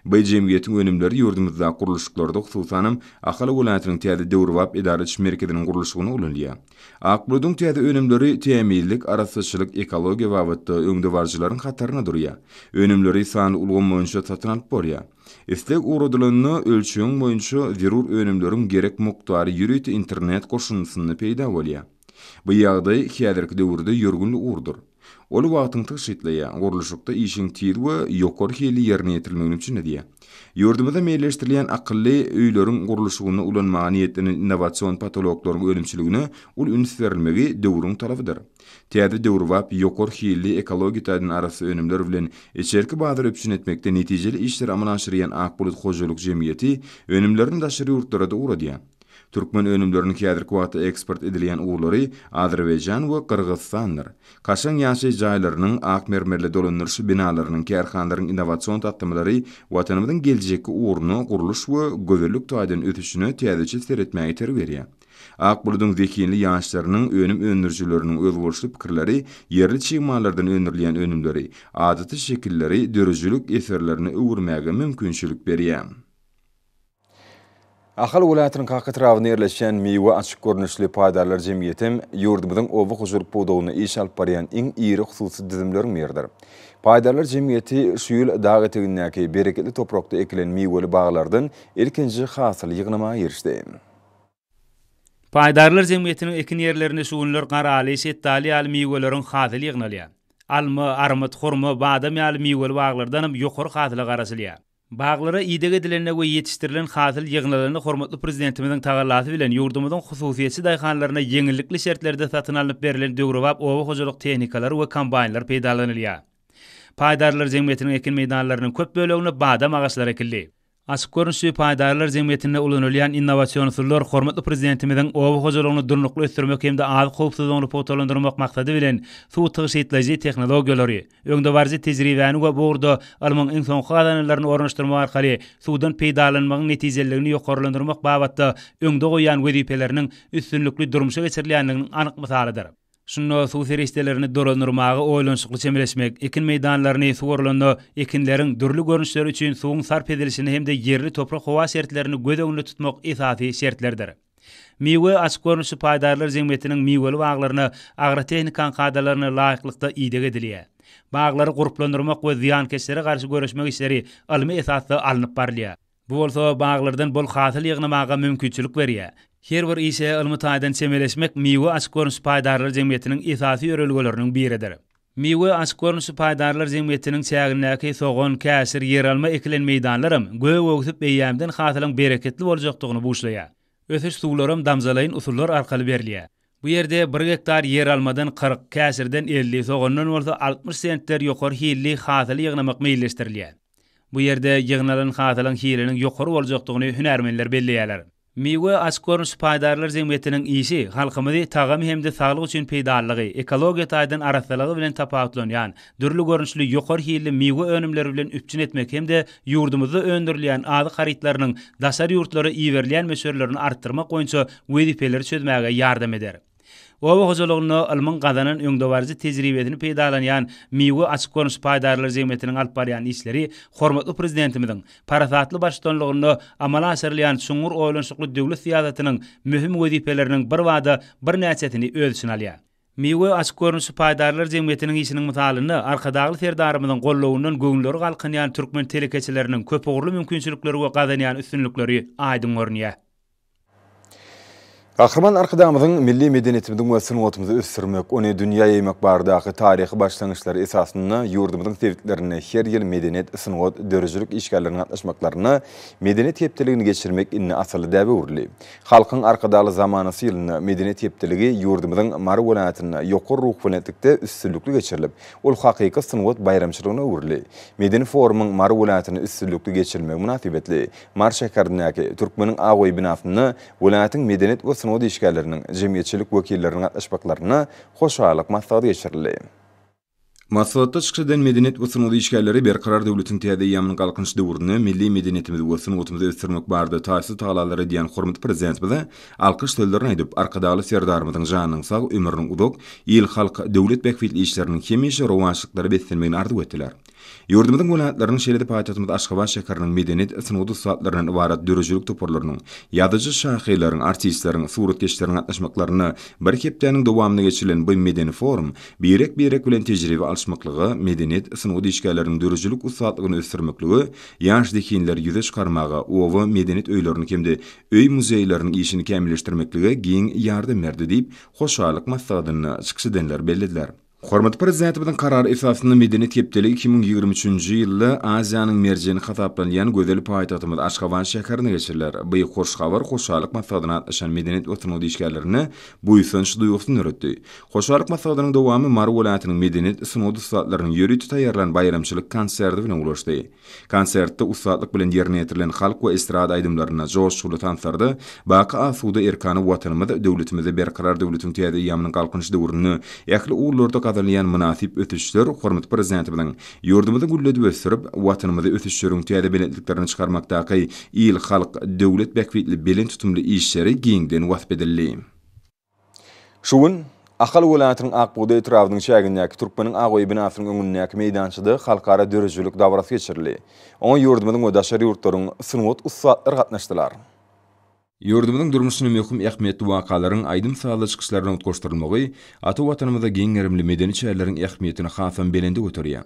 Speaker 1: By jemgyýetiň önümleri ýurdumyzda gurluşyklarda, hususanam, Ahal welaýatynyň täze döwrebap edara ediş merkeziniň gurluşygynda ulanylýar. Akbuludyň täze önümleri tämizlik, arassaçylyk, ekologiýa babatda öňdebaryjylaryň hatarynda durýar. Önümleri sanly ulgam boýunça satyn alyp bolýar. Isleg ugradylanda, ölçegiň boýunça zerur önümleriň gerek mukdary ýörite internet goşundysynda peýda bolýar. Bu ýagdaý häzirki döwürde ýörgün ugurdyr. Ol wagtyňy tygşytlaýar, gurluşykda işiň tiz we ýokary hilli ýerine ýetirilmegini üpjün edýär. Ýurdumyzda meýilleşdirilýän akylly öýleriň gurluşygynda ulanmaga niýetlenen innowasion potologlaryň önümçiligine uly üns berilmegi döwrüň talabydyr. Täze döwrebap, ýokary hilli, ekologiýa taýdan arassa önümler bilen içerki bazary üpjün etmekde netijeli işleri amala aşyrýan Ak bulut hojalyk jemgyýeti önümlerini daşary ýurtlara-da ugradýar. Türkmen önümleriniň häzirki wagtda eksport edilýän ugurlary Azerbaýjan we Gyrgyzystandyr. Kaşaň ýaşaýyş jaýlarynyň, ak mermerli dolandyryş binalarynyň, kärhanalaryň innowasion taslamalary Watanymyzyň geljekki ugruna, gurluş we gözellik taýdan ösüşine täzeçe seretmäge itergi berýär. Ak buludyň zehinli ýaşlarynyň, önüm öndürijileriniň özboluşly pikirleri, ýerli çig mallardan öndürilýän önümleri, adaty şekilleri döredijilik eserlerine öwürmäge mümkinçilik berýär. Ahal welaýatynyň Kaka etrabynda ýerleşýän Miwe açyk görnüşli paýdarlar jemgyýetem ýurdumyzyň oba hojalyk pudagynda iş alyp barýan iň iri hususy düzümleriň biridir. Paýdarlar jemgyýeti şu ýyl dag etegindäki bereketli toprakda ekilen miweli baglardan ilkinji hasyly ýygnamaga girişdi. Paýdarlar
Speaker 3: jemgyýetiniň ekin ýerlerinde şu günler garaly, şetdaly ýaly miweleriň hasyly ýygnalýar. Alma, armyt, hurma, badam ýaly miweli baglardanam ýokary hasyla garaşylýar. Baglara ideg edilende we ýetişdirilen hasyl ýygnalanda hormatly Prezidentimiziň tagallasy bilen ýurdumyzyň hususyýetçi daýhanlaryna ýeňillikli şertlerde satyn alnyp berlen döwrebap oba hojalyk tehnikalary we kombaýnlar peýdalanylýar. Paýdarlar jemgyýetiniň ekin meýdanlarynyň köp böleginde badam agaçlary ekildi. Açyk görnüşli paýdarlar jemgyýetinde ulanylýan innowasion usullar hormatly Prezidentimiziň oba hojalygyny durnukly ösdürmek hem-de azyk howpsuzlygyny pugtalandyrmak maksady bilen suw tygşytlaýjy tehnologiýalary, Öňdebaryjy tejribäni we bu ugurda ylmyň iň soňky gazananlaryny ornaşdyrmak arkaly suwdan peýdalanmagyň netijeliligini ýokarlandyrmak babatda öňde goýýan wezipeleriniň üstünlikli durmuşa geçirilýändiginiň anyk mysalydyr. Şunda suw serişdelerini dolandyrmaga oýlanyşykly çemeleşmek, ekin meýdanlaryny suwarylanda ekinleriň dürli görnüşleri üçin suwuň sarp edilişini hem-de ýerli toprak-howa şertlerini göz öňünde tutmak esasy şertlerdir. Miwe açyk görnüşli paýdarlar jemgyýetiniň miweli baglaryna agrotehnikaň kadalaryna laýyklykda ideg edilýär. Baglary gurplandyrmak we zyýankeşlere garşy göreşmek işleri ylmy esasda alnyp barylýar. Bu bolsa baglardan bol hasyl ýygnamaga mümkinçilik berýär. Her bir işe ylmy taýdan çemeleşmek miwe açyk görnüşli paýdarlar jemgyýetiniň esasy ýörelgeleriniň biridir. Miwe açyk görnüşli paýdarlar jemgyýetiniň çägindäki sogan, käşir, ýeralma ekilen meýdanlaram gök öwsüp eýýämden hasylyň bereketli boljakdygyny buşlaýar. Ösüş suwlaram damjalaýyn usullar arkaly berilýär. Bu ýerde bir gektar ýeralmadan kyrk, käşirden elli, sogandan bolsa altmyş sentner ýokary hilli hasyly ýygnamak meýilleşdirilýär. Bu ýerde ýygnalan hasylyň hiliniň ýokary boljakdygyny hünärmenler belleýärler. Miwe açyk görnüşli paýdarlar jemgyýetiniň işi halkymyzy tagamy hem-de saglyk üçin peýdalylygy, ekologiýa taýdan arassalygy bilen tapawutlanýan, dürli görnüşli ýokary hilli miwe önümleri bilen üpjün etmek hem-de ýurdumyzda öndürilýän azyk harytlarynyň daşary ýurtlara iberilýän möçberlerini artdyrmak boýunça wezipeleri çözmäge ýardam eder. Oba hojalygynda ylmyň gazanan öňdebaryjy tejribesini peýdalanýan Miwe açyk görnüşli paýdarlar jemgyýetiniň alyp barýan işleri hormatly Prezidentimiziň parasatly baştutanlygynda amala aşyrylýan çuňňur oýlanyşykly döwlet syýasatynyň möhüm wezipeleriniň birbada birnäçesini öz içine alýar. Miwe açyk görnüşli paýdarlar jemgyýetiniň işiniň mysalynda Arkadagly Serdarymyzyň gollawyndan göwünleri galkynýan türkmen telekeçileriniň köpugurly mümkinçilikleri we gazanýan üstünlikleri aýdyň görünýär.
Speaker 1: Gahryman Arkadagymyzyň milli medeniýetimiziň we sungatymyzy ösdürmek, ony dünýä ýaýmak baradaky taryhy başlangyçlary esasynda ýurdumyzyň sebitlerinde her ýyl medeniýet, sungat, döredijilik işgärleriniň gatnaşmaklarynda Medeniýet hepdeligini geçirmek indi asylly däbe öwrüldi. Halkyň Arkadagly zamanasy ýylynda Medeniýet hepdeligi ýurdumyzyň Mary welaýatynda ýokary ruhubelentlikde üstünlikli geçirilip, ol hakyky sungat baýramçylygyna öwrüldi. Medeni forumyň Mary welaýatynda üstünlikli geçirilmegi mynasybetli Mary şäherindäki Türkmeniň ak öýi binasynda welaýatyň medeniýet we sungat işgärleriniň, jemgyýetçilik wekilleriniň gatnaşmaklarynda hoşallyk maslahaty geçirildi. Maslahatda çykyş eden medeniýet we sungat işgärleri Berkarar döwletiň täze eýýamynyň Galkynyş döwründe milli medeniýetimizi we sungatymyzy ösdürmek barada taýsyz tagalalar edýän hormatly Prezidentimize alkyş sözlerini aýdyp, Arkadagly Serdarymyzyň janynyň sag, ömrüniň uzak, il-halk, döwlet bähbitli işleriniň hemişe rowaçlyklara beslenmegini arzuw etdiler. Ýurdumyzyň welaýatlarynyň, şeýle-de paýtagtymyz Aşgabat şäheriniň medeniýet, sungat ussatlaryndan ybarat döredijilik toparlarynyň, ýazyjy-şahyrlaryň, artistleriň, suratkeşleriň gatnaşmaklarynda bir hepdäniň dowamynda geçirilen bu medeni forum birek-birek bilen tejribe alyşmaklyga, medeniýet, sungat işgärleriniň döredijilik ussatlygyny ösdürmeklige, ýaş zehinleri ýüze çykarmaga, oba medeniýet öýleriniň hem-de öý-muzeýleriň işini kämilleşdirmeklige giň ýardam berdi diýip, hoşallyk maslahatynda çykyş edenler bellediler. Hormatly Prezidentimiziň Karary esasynda medeniýet hepdeligi iki müň ýigrimi üçünji ýylda Aziýanyň merjeni hasaplanylýan gözel paýtagtymyz Aşgabat şäherinde geçiriler. Bu hoş habar Hoşallyk maslahatyna gatnaşan medeniýet we sungat işgärlerinde buýsanç duýgusyny döretdi. Hoşallyk maslahatynyň dowamy Mary welaýatynyň medeniýet, sungat ussatlarynyň ýörite taýýarlan baýramçylyk konserti bilen ulaşdy. Konsertde ussatlyk bilen ýerine ýetirilen halk we estrada aýdymlaryna, joşguly tanslarda Baky asuda erkana Watanymyz, döwletimizi, Berkarar döwletiň täze eýýamynyň Galkynyş döwründe ähli ugurlarda gazanylýan mynasyp ösüşler hormatly Prezidentimiziň ýurdumyzy gülledip ösdürip, Watanymyzy ösüşleriň täze belentliklerine çykarmakdaky il-halk, döwlet bähbitli belent tutumly işleri giňden wasp edildi. Şu gün Ahal welaýatynyň Ak bugdaý etrabynyň çägindäki Türkmeniň ak öýi binasynyň öňündäki meýdançada halkara döredijilik dabarasy geçirildi. Oňa ýurdumyzyň we daşary ýurtlaryň sungat ussatlary gatnaşdylar. Ýurdumyzyň durmuşyna möhüm ähmiýetli wakalaryň aýdym-sazly çykyşlardan utgaşdyrylmagy ata Watanymyzda giň gerimli medeni çäreleriň ähmiýetini hasam belende göterýär.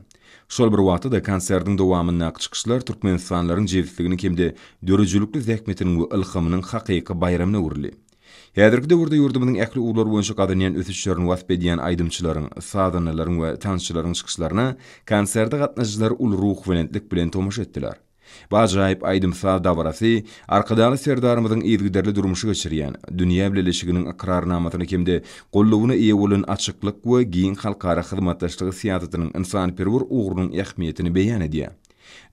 Speaker 1: Şol bir wagtda-da konsertiň dowamyndaky çykyşlar türkmenistanlylaryň jebisliginiň hem-de döredijilikli zähmetiniň we ylhamynyň hakyky baýramyna öwrüldi. Häzirki döwürde ýurdumyzyň ähli ugurlar boýunça gazanýan ösüşlerini wasp edýän aýdymçylaryň, sazandalaryň we tansçylaryň çykyşlaryna konserde gatnaşyjylar uly ruhubelentlik bilen tomaşa etdiler. Bu ajaýyp aýdym-saz dabarasy Arkadagly Serdarymyzyň yzygiderli durmuşa geçirýän, dünýä bileleşiginiň ykrarnamasyna hem-de goldawyna eýe bolan açyklyk we giň halkara hyzmatdaşlygy syýasatynyň ynsanperwer ugrunyň ähmiýetini beýan edýär.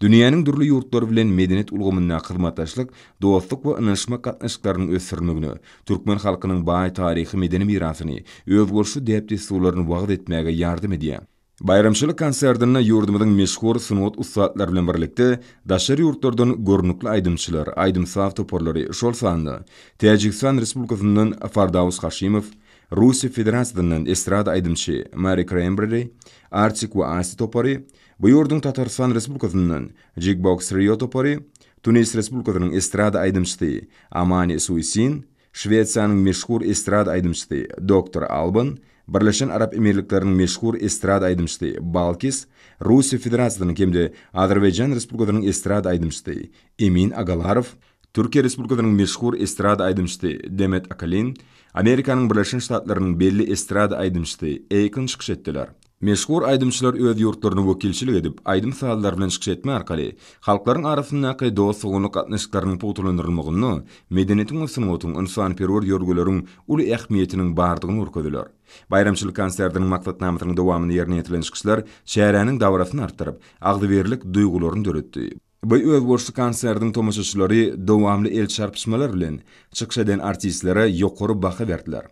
Speaker 1: Dünýäniň dürli ýurtlary bilen medeniýet ulgamyndaky hyzmatdaşlyk, dostluk we ynanyşmak gatnaşyklarynyň ösdürilmegine, türkmen halkynyň baý taryhy-medeni mirasyny, özboluşly däp-dessurlaryny wagyz etmäge ýardam edýär. Baýramçylyk konsertinde ýurdumyzyň meşhur sungat ussatlary bilen birlikde, daşary ýurtlardan görnükli aýdymçylar, aýdym-saz toparlary, şol sanda Täjigistan Respublikasyndan Fardaus Haşimow, Russiýa Federasiýasyndan estrada aýdymçy Mary Krembreri, Artik we Asti topary, Bu ýurduň Tatarystan Respublikasyndan Jigbox Trio topary, Tunis Respublikasynyň estrada aýdymçysy Amani Suisin, Şwesiýanyň meşhur estrada aýdymçysy Doktor Alban, Birleşen Arap Emirlikleriniň meşhur estrada aýdymçysy Balkis, Russiýa Federasiýasynyň hem-de Azerbaýjan Respublikasynyň estrada aýdymçysy Emin Agalarow, Türkiýe Respublikasynyň meşhur estrada aýdymçysy Demet Akalin, Amerikanyň Birleşen Ştatlarynyň belli estrada aýdymçysy Akon çykyş etdiler. Meşhur aýdymçylar öz ýurtlaryna wekilçilik edip, aýdym-sazlary bilen çykyş etmek arkaly, halklaryň arasyndaky dost-doganlyk gatnaşyklarynyň pugtalandyrylmagynda medeniýetiň we sungatyň, ynsanperwer ýörgüleriň uly ähmiýetiniň bardygyny görkezdiler. Baýramçylyk konsertiniň maksatnamasynyň dowamynda ýerine ýetirilen çykyşlar çäräniň dabrasyny artdyryp, agzybirlik duýgularyny döretdi. Bu özboluşly konsertiň tomaşaçylary dowamly el çarpyşmalar bilen çykyş eden artistlere ýokary baha berdiler.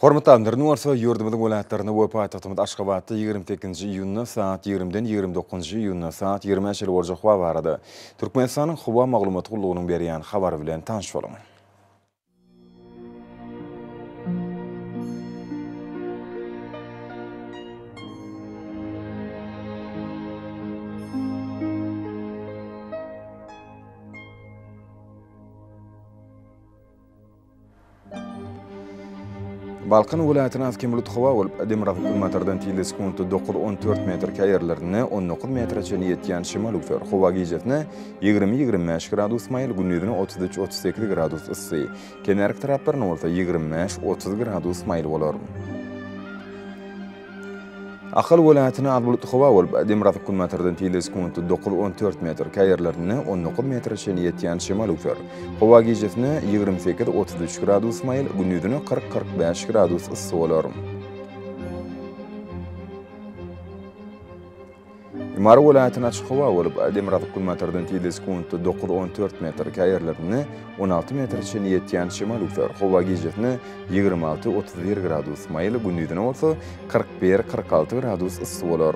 Speaker 1: Hormatly alimlerimiz bolsa ýurdumyzyň welaýatlarynda we paýtagtymyz Aşgabatda ýigrimi sekizinji iýunda sagat ýigrimiden ýigrimi dokuzynjy iýunda sagat ýigrimä çenli boljak howa barada Türkmenistanyň Howa maglumat gullugynyň berýän habary bilen tanyş boluň. Balkan welaýatyna has kem bulut howa bolup, demirgazyk günbatardan tizligi sekuntda dokuz, on dört metr, käýer ýerlerinde on dokuz metre çenli ýetýän şemal öwser. Howa gijesi-ne ýigrimi, ýigrimi bäş gradus maýyl, gündizine otuz üç, otuz sekiz gradus yssy. Kenarki taraplarynda bolsa ýigrimi bäş, otuz gradus maýyl bolar. Ahal welaýatyna az bulutly howa bolup, demirgazyk günbatardan tizligi sekuntda dokuz, on dört metr, käý ýerlerinde on dokuz metre çenli ýetýän şemal öwser. Howa gijesine ýigrimi sekiz, otuz üç gradus maýyl, gündizine kyrk, kyrk bäş gradus yssy bolar. Mary welaýatyna açyk howa bolup, demirgazyk günbatardan tizligi sekuntda dokuz, on dört metr, käýerlerinde on alty metre çenli ýetýän şemal üwser. Howa gijesine ýigrimi alty, otuz bir gradus maýyl, gündizine bolsa kyrk bir, kyrk alty gradus yssy bolar.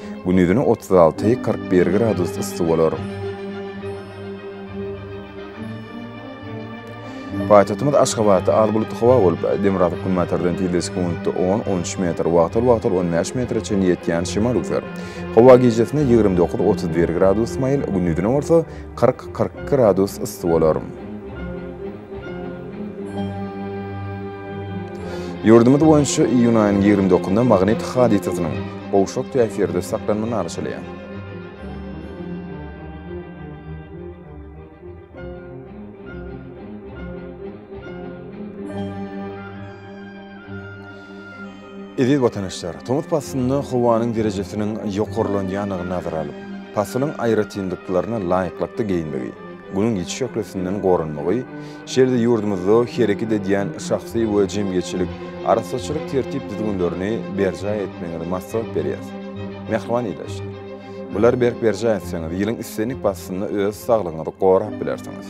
Speaker 1: Gündizine otuz alty, kyrk bir gradus yssy bolar. Paýtagtymyz Aşgabatda az bulutly howa bolup, demirgazyk günbatardan tizleşik minutda on, on üç metr, wagtal-wagtal on bäş metre çenli ýetýän şemal üzer. Howa gijesine ýigrimi dokuz, otuz bir gradus maýyl, gündizine bolsa kyrk, kyrk iki gradus yssy bolar. Ýurdumyz boýunça iýun aýynyň ýigrimi dokuzynda magnit hadysasynyň gowşak täsirde saklanma nalşylýar. Eziz watandaşlar, tomus paslynda howanyň derejesiniň ýokarlanýandygyny nazara alyp, pasylyň aýratynlyklaryna laýyklykda geýinmegi, Günüň ýiti şöhlesinden goranmagy, şeýle-de ýurdumyzda hereket edýän şahsy we jemgyýetçilik arassaçylyk tertip-düzgünlerini berjaý etmegiňizi maslahat berýäris. Mähriban ildeşler! Bulary berk berjaý etseňiz, ýylyň islendik paslynda öz saglygyňyzy gorap bilersiňiz.